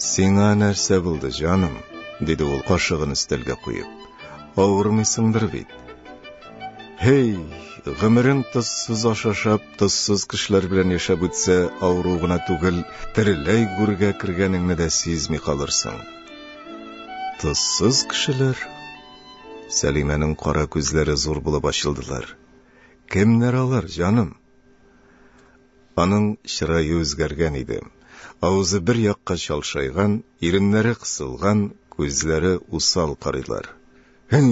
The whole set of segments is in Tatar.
Сиңа нәрсә булды, җаным? диде ул кашыгын өстәлгә куеп. Авырмыйсыңдыр бит? Һей, гомерең тозсыз ашашап, тозсыз кешеләр белән яшәп үтсә, авыру гына түгел, тереләй гүргә кергәнеңне дә сизми калырсың. Тозсыз кешеләр? Сәлимәнең кара күзләре зур булып ачылдылар. Кемнәр алар, җаным? Аның чырае үзгәргән иде. Авызы бер якка чалшайган, иреннәре кысылган, күзләре усал карыйлар. Һи,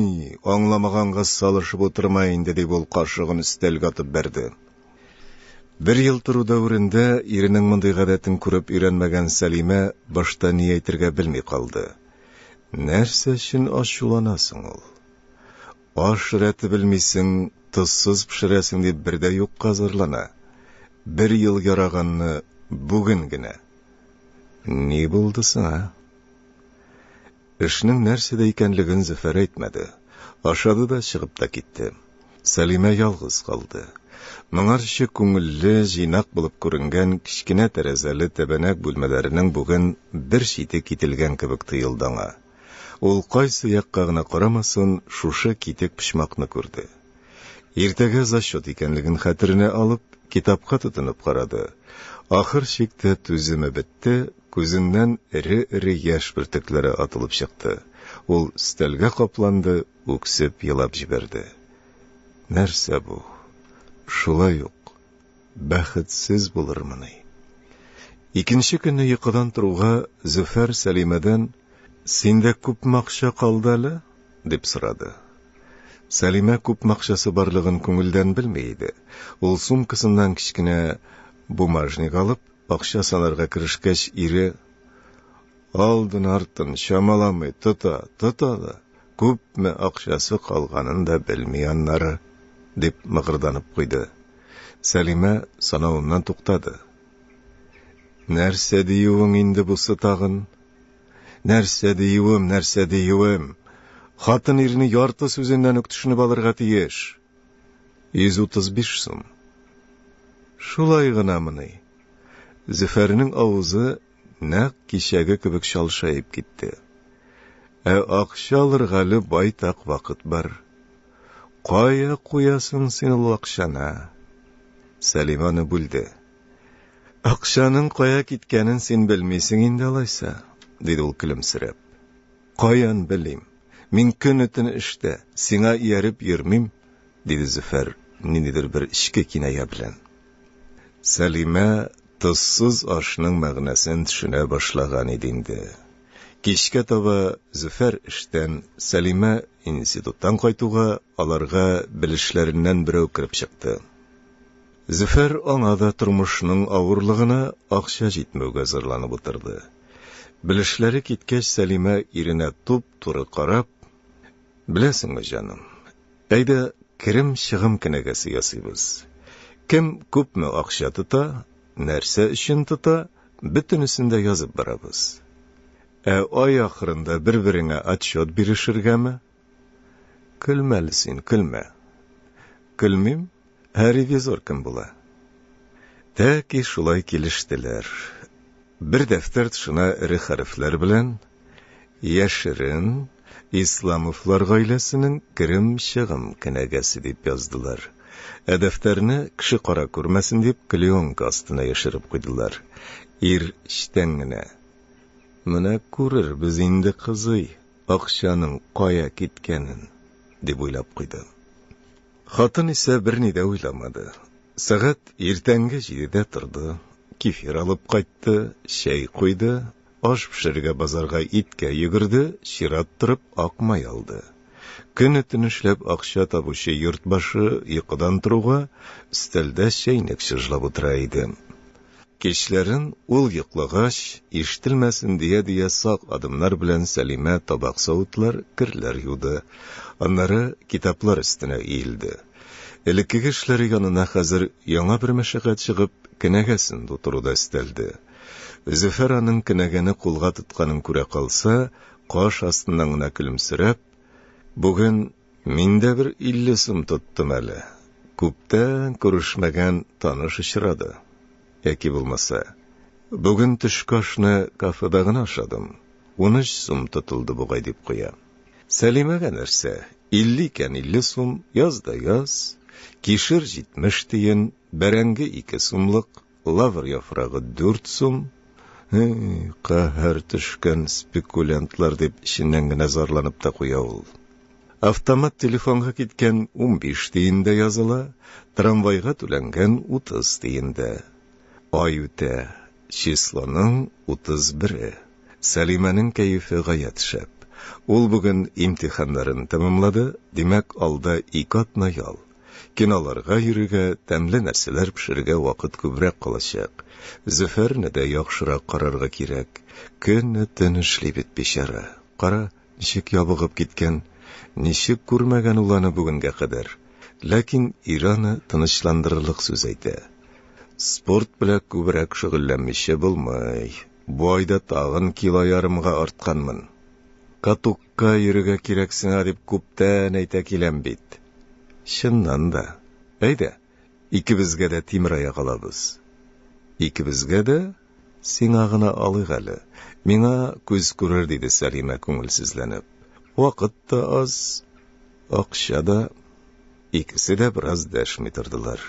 аңламаганга салышып утырма инде, дип ул кашыгын өстәлгә атып бәрде. Бер ел тору дәверендә иренең мондый гадәтен күреп өйрәнмәгән Сәлимә башта ни әйтергә белми калды. Нәрсә өчен ачулана соң ул? Аш рәте белмисең, тозсыз пешерәсең дип бер дә юкка зарлана. Бер ел яраганны бүген генә. Ни булды сиңа? Эшнең нәрсәдә икәнлеген Зөфәр әйтмәде. Ашады да чыгып та китте. Сәлимә ялгыз калды. Моңарчы күңелле, җыйнак булып күренгән кечкенә тәрәзәле тәбәнәк бүлмәләренең бүген бер чите кителгән кебек тоелды аңа. Ул кайсы якка гына карамасын, шушы китек почмакны күрде. Иртәгә зачет икәнлеген хәтеренә алып, китапка тотынып карады. Ахыр чиктә түземе бетте, күзеннән эре-эре яшь бөртекләре атылып чыкты. Ул өстәлгә капланды, үксеп елап җибәрде. Нәрсә бу? Шулай ук. Бәхетсез булырмыни? Икенче көнне йокыдан торуга Зөфәр Сәлимәдән, Синдә күпме акча калды әле? дип сорады. Сәлимә күпме акчасы барлыгын күңелдән белми иде. Ул сумкасыннан кечкенә бумажник алып, Акча санарга керешкәч, ире, алдын-артын чамаламый, тота, тота да, күпме акчасы калганын да белми аннары, дип мыгырданып куйды. Сәлимә санавыннан туктады. Нәрсә диюең инде бусы тагын? Нәрсә диюем, нәрсә диюем? Хатын ирне ярты сүзеннән үк төшенеп алырга тиеш. 135 сум. Шулай гынамыни? Зөфәрнең авызы нәкъ кичәге кебек чалшаеп китте. Ә акча алырга әле байтак вакыт бар. Кая куясың син ул акчаны? Сәлимә аны бүлде. Акчаның кая киткәнен син белмисең инде алайса, диде ул көлемсерәп. Каян белим? Мин көне-төне эштә, сиңа ияреп йөрмим, диде Зөфәр ниндидер бер эчке киная белән. Сәлимә тозсыз ашның мәгънәсен төшенә башлаган иде инде. Кичкә таба Зөфәр эштән, Сәлимә институттан кайтуга, аларга белешләреннән берәү кереп чыкты. Зөфәр аңа да тормышның авырлыгына, акча җитмәүгә зарланып утырды. Белешләре киткәч, Сәлимә иренә туп-туры карап, Беләсеңме, җаным, әйдә керем-чыгым кенәгәсе ясыйбыз. Кем күпме акча тота, нәрсә өчен тота, бөтенесен дә язып барабыз. Ә ай ахырында бер-береңә отчет бирешергәме? Көлмә әле син, көлмә. Көлмим, ә ревизор кем була? Тәки шулай килештеләр. Бер дәфтәр тышына эре хәрефләр белән Яшерен Исламовлар гаиләсенең керем-чыгым кенәгәсе дип яздылар. Ә дәфтәрне кеше кара күрмәсен дип клеенка астына яшереп куйдылар. Ир чтән генә. Менә күрербез инде, кызый, Акчаның кая киткәнен, дип уйлап куйды. Хатын исә берни дә уйламады. Сәгать иртәнге җидедә торды, кефир алып кайтты, чәй куйды, аш пешерергә базарга иткә йөгерде, чират торып ак май алды. Көне-төн эшләп акча табучы йорт башы йокыдан торуга, өстәлдә чәйнек чыжлап утыра иде. Кичләрен, ул йоклагач, ишетелмәсен дия-дия сак адымнар белән Сәлимә табак-савытлар, керләр юды. Аннары китаплар өстенә иелде. Элеккеге эшләре янына хәзер яңа бер мәшәкать чыгып, кенәгәсен тутыру да өстәлде. Зөфәр аның кенәгәне кулга тотканын күрә калса, каш астыннан гына көлемсерәп, Бүген Мин дә бер илле сум тоттым әле. Күптән күрешмәгән таныш очрады. Яки булмаса, бүген төшке ашны кафеда гына ашадым, унөч сум тотылды бугай, дип куя. Сәлимәгә нәрсә, илле икән илле сум, яз да яз, кишер җитмеш тиен, бәрәңге ике сумлык. Лавр яфрагы дүрт сум. Каһәр төшкән спекулянтлар, дип эченнән генә зарланып та куя ул. Автомат телефонга киткән унбиш тиен дә языла, трамвайга түләнгән утыз тиен дә. Ай үтә, числоның утыз бере. Сәлимәнең кәефе гаять шәп. Ул бүген имтиханнарын тәмамлады, димәк, алда ике атна ял. Киноларга йөрергә, тәмле нәрсәләр пешерергә вакыт күбрәк калачак. Зөфәрне дә яхшырак карарга кирәк. Көне-төн эшли бит бичара. Кара, ничек ябыгып киткән. Ничек күрмәгән ул аны бүгенгә кадәр. Ләкин ире аны тынычландырырлык сүз әйтә. Спорт белән күбрәк шөгыльләнмичә булмый. Бу айда тагын кило ярымга артканмын. Катук. Ка йөрергә кирәк сиңа дип күптән әйтә киләм бит. Чыннан да. Әйдә, икебезгә дә тимераяк алабыз. Икебезгә дә? Сиңа гына алыйк әле. Миңа күз күрер, диде Сәлимә күңелсезләнеп. Вакыт та аз, акча да. Икесе дә бераз дәшми тордылар.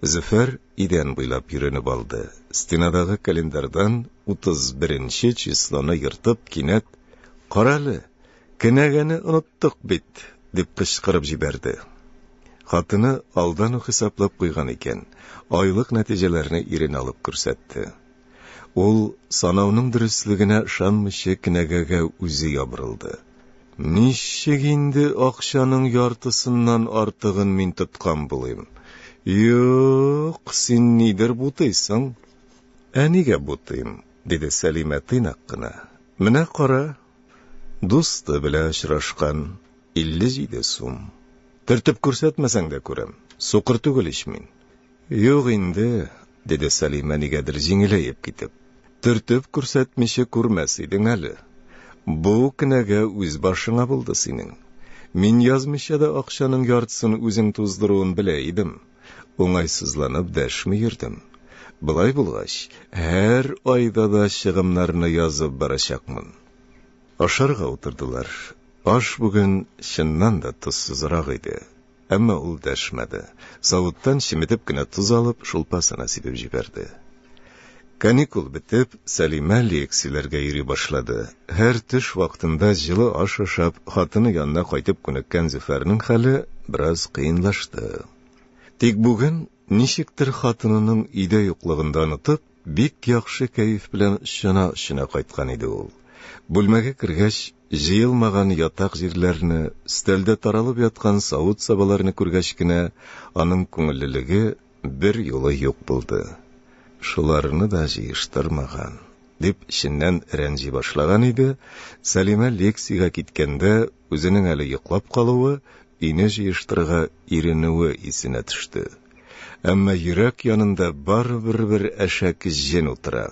Зөфәр Идән буйлап йөренеп алды. Стенадагы календарьдан утыз беренче числоны ертып, кинәт, Карале, кенәгәне оныттык бит! дип кычкырып җибәрде. Хатыны алдан ук хисаплап куйган икән, айлык нәтиҗәләрне иренә алып күрсәтте. Ул, санауның дөреслегенә ышанмыйча, кенәгәгә үзе ябырылды. Ничек инде акчаның яртысыннан артыгын мин тоткан булыйм? Юк, син нидер бутыйсың. Ә нигә бутыйм? диде Сәлимә тыйнак кына. Менә кара, дусты белән очрашкан, 57 сум. Төртеп күрсәтмәсәң дә күрәм, сукыр түгел ич мин. Юк инде, Диде Сәлимә нигәдер җиңеләеп китеп. Төртеп күрсәтмичә күрмәс идең әле. Бу кенәгә үз башыңа булды синең. Мин язмыйча да акчаның яртысын үзең туздыруын белә идем. Уңайсызланып дәшми йөрдем. Болай булгач, һәр айда да чыгымнарны язып барачакмын. Ашарга утырдылар. Аш бүген чыннан да тозсызрак иде. Әмма ул дәшмәде. Савыттан чеметеп кенә тоз алып, шулпасына сибеп җибәрде. Каникул бетеп, Сәлимә лекцияләргә йөри башлады. Һәр төш вакытында җылы аш ашап, хатыны янына кайтып күнеккән Зөфәрнең хәле бераз кыенлашты. Тик бүген, ничектер хатынының өйдә юклыгын да онытып, Бик яхшы кәеф белән чана-чона кайткан иде ул. Бүлмәгә кергәч, җыелмаган ятак җирләрне, өстәлдә таралып яткан савыт-сабаларны күргәч кенә, аның күңеллелеге берьюлы юк булды. Шуларны да җыештырмаган, дип эченнән рәнҗи башлаган иде, Сәлимә лекциягә киткәндә үзенең әле йоклап калуы, өйне җыештырырга иренүе исенә төште. Әмма йөрәк янында барыбер бер әшәк җен утыра.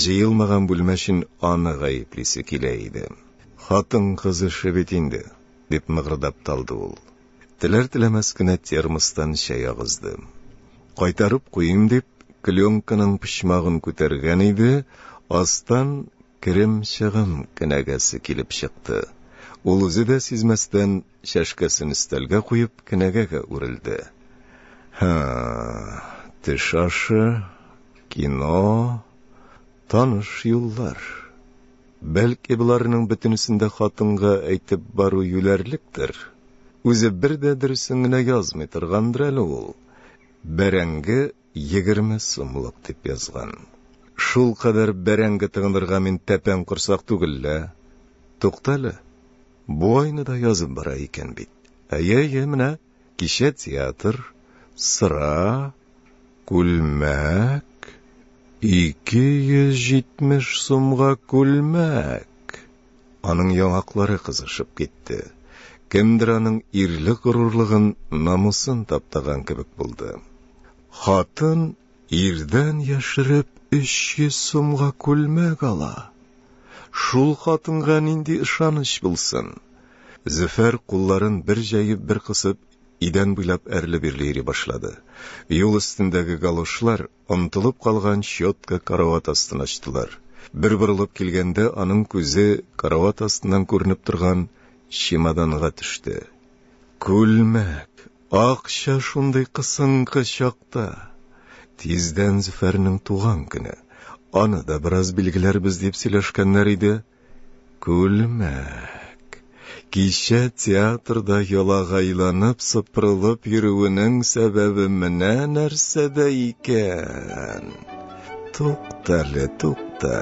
Җыелмаган бүлмә өчен аны гаеплисе килә иде. Хатын-кыз эше бит инде, дип мыгырдап талды ул. Теләр-теләмәс кенә термостан чәй агызды. Кайтарып куйыйм дип, клёнканың почмагын күтәргән иде, астан Керем-чыгым кенәгәсе килеп чыкты. Ул үзе дә сизмәстән, чәшкәсен өстәлгә куеп, кенәгәгә үрелде. Һы, теш ашы, кино, таныш юллар. Бәлки, боларның бөтенесен дә хатынга әйтеп бару юләрлектер? Үзе бер дә дөресен генә язмый торгандыр әле ул. Бәрәңге Егерме сумлык дип язган. Шулкадәр бәрәңге тыгынырга мин тәпән корсак түгел лә. Туктале, бу айны да язып бара икән бит. Әйе, әйе, менә кичә театр, сыра, күлмәк, ике йөз җитмеш сумга күлмәк! Аның яңаклары кызышып китте. Кемдер аның ирле горурлыгын, намусын таптаган кебек булды. Хатын ирдән яшереп 300 сумга күлмәк ала. Шул хатынга нинди ышаныч булсын? Зөфәр кулларын бер җәеп, бер кысып, идән буйлап әрле-бирле йөри башлады. Юл өстендәге галошлар Онытылып калган щетка карават астына ачтылар. Бер борылып килгәндә, аның күзе карават астыннан күренеп торган чемоданга төште. Күлмәк! Акча шундый кысынкы чакта! Тиздән Зөфәрнең туган көне. Аны да бераз билгеләрбез дип сөйләшкәннәр иде. Күлмәк. Кичә театрда ялагайланып сыпырылып йөрүенең сәбәбе менә нәрсәдә икән. Туктале, тукта,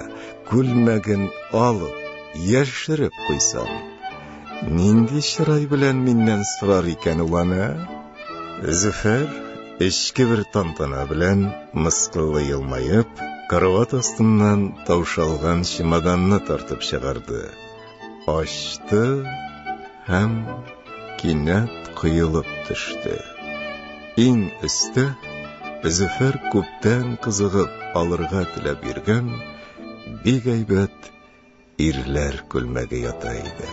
күлмәген алып, яшереп куйсам. Нинди чырай белән миннән сорар икән ул аны? Зөфәр, эчке бер тантана белән, мыскыллы елмаеп, карават астыннан таушалган чемоданны тартып чыгарды. Ачты һәм кинәт коелып төште. Иң өстә Зөфәр күптән кызыгып алырга теләп йөргән бик әйбәт ирләр күлмәге ята иде.